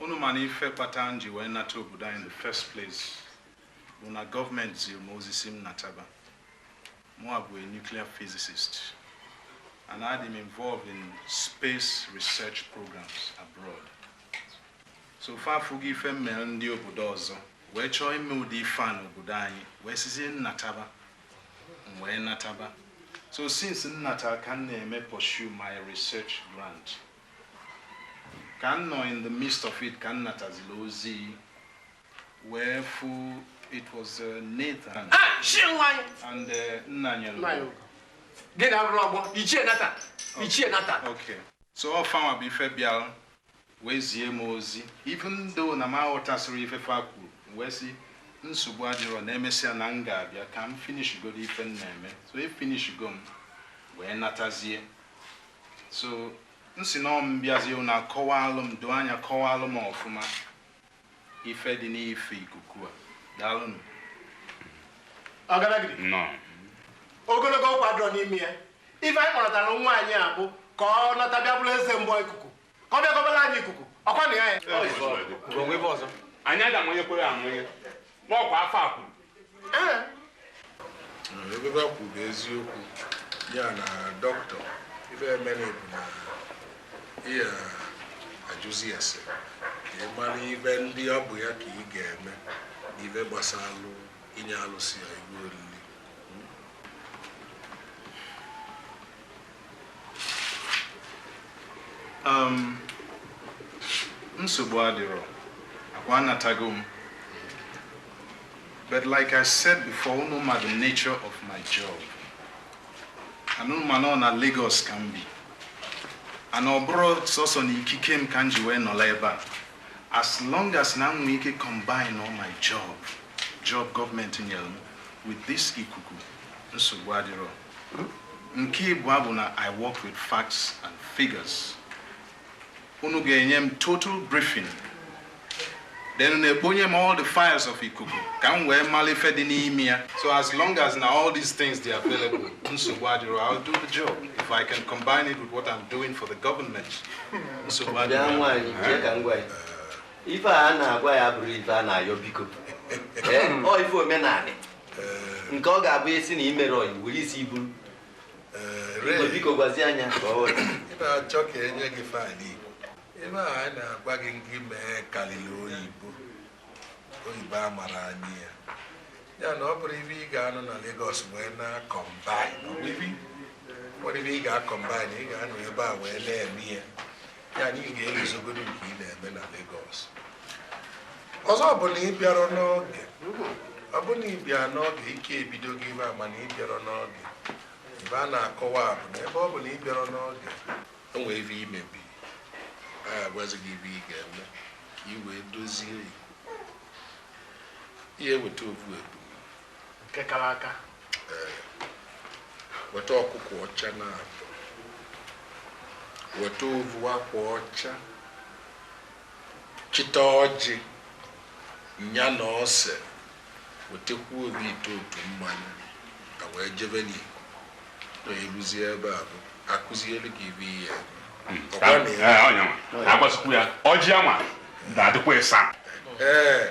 Unu ma na ife kpatara m ji wee nata obodo anyị in the first place bụ na gọọmenti ziri m ozi si m nataba. Mụa bụ a nuclear physicist and adị m involved in space research programs abroad. So fa afụgo ife m mere ndị obodo ọzọ wee chọọ ime ụdị ife a n'obodo anyị wee sizie m nataba m wee nataba. So since m nata ka m na-eme pursue my research grant ka m nọ in the midst of it ka m nataziri ozi wee fụ it was uh, Nathan ah, and uh, nna nyere gị na arụrụ ọgbọ ichie Nathan ichie Nathan okay so ọ fanwa bụ ife bịara wee zie m ozi even though na m aghọtasịrọ ife fa kwuru wee sị nsogbu adịrọ na emesịa na m ga-abịa ka m finish godo ife m na-eme so e finish go m wee natazie so m sị na m bịazie unu akọwalụ m doo anya kọwalụ m ọfụma ife dị n'ife ikuku a daalụnụ ọgaragidi Nnọọ. ogologo okwu adịrọ n'ime ya ife anyị kpọrọtara nwa anyị a bụ ka ọ nata bịa bụrụ eze mgbọ ikuku ka ọ bịa gọbara anyị ikuku ọkwa na ya ya anyị aga amanyekwere amanye n'ọkwa afọ a kwuru ive ha kwuru bụ eziokwu ya na doctor ife emere bụ na ị ya-ajụzi ese ka ị mara ive ndị ọ bụ ya ka ị ga-eme ive gbasara inye alụsị a ive oriri um, nsogbu adịrọ ọkwa anatago m but like i said before unu ma the nature of my job and unu ma na ọ na Lagos ka m bi and ọ bụrọ sọsọ na ikike m ka m ji wee nọlụ ebe a as long as na m nwee ike combine all my job job gọọmenti nyere m with this ikuku nsogbu adịrọ nke ịbụa bụ na i work with facts and figures unu ga-enye m total briefing then unu ekponye m all the files of ikuku ka m wee mara ife dị n'ime ya so as long as na all these things dị available nsogbu adịrọ i'll do the job if i can combine it with what i'm doing for the government nsogbu adịrọ ife a na-agwa ya abụrọ ife a na-ayọ biko ọ ife omenanị nke ọ ga-abụ a sị na i mere o i were isi buru Igwe, biko gwazienụ ya ka ọ ghọta. ị na-achọ ka enye gị file ive anyị na-agwa gị ngị mee karịrị oyibo oyibo a mara anyị ya ya na ọ bụrọ ive ị ga-anọ na Lagos wee na-acombine o nwerọ ive ị ga-acombine ị ga-anọ ebe a wee na-eme ya ya anyị ga-eguzogodo nke ị na-eme na Lagos ọzọ bụ na ị bịara n'oge ọ bụ na ị bịa n'oge ike ebido gị ibe a mana ị bịara n'oge ibe a na-akọwa bụ na ebe ọ bụ na ị bịara n'oge o nwee ibe i mebi a gwazi gị ibe ị ga-eme ka ị wee dozie ya ihe weta ovu ebu nke kara aka weta ọkụkọ ọcha naabọ weta ovu akwa ọcha chịta ọjị nya na ose wetakwu ovu ite otu mmanya ka wee jeve n'iko na eruzie ebe ahụ a kụziere gị ibe ihe ọkwa na ya Ee, ọnya nwa. Ka agbasikwu ya ọjị anwa ga-adịkwa ịsaa ee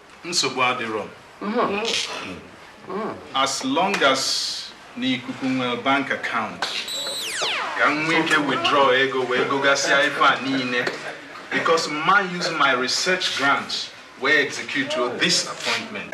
nsogbu adịrọ as long as na ikuku nwere bank account ka m nwee ike withdraw ego wee gogasịa ife a niile because m ma use my research grant wee execute this appointment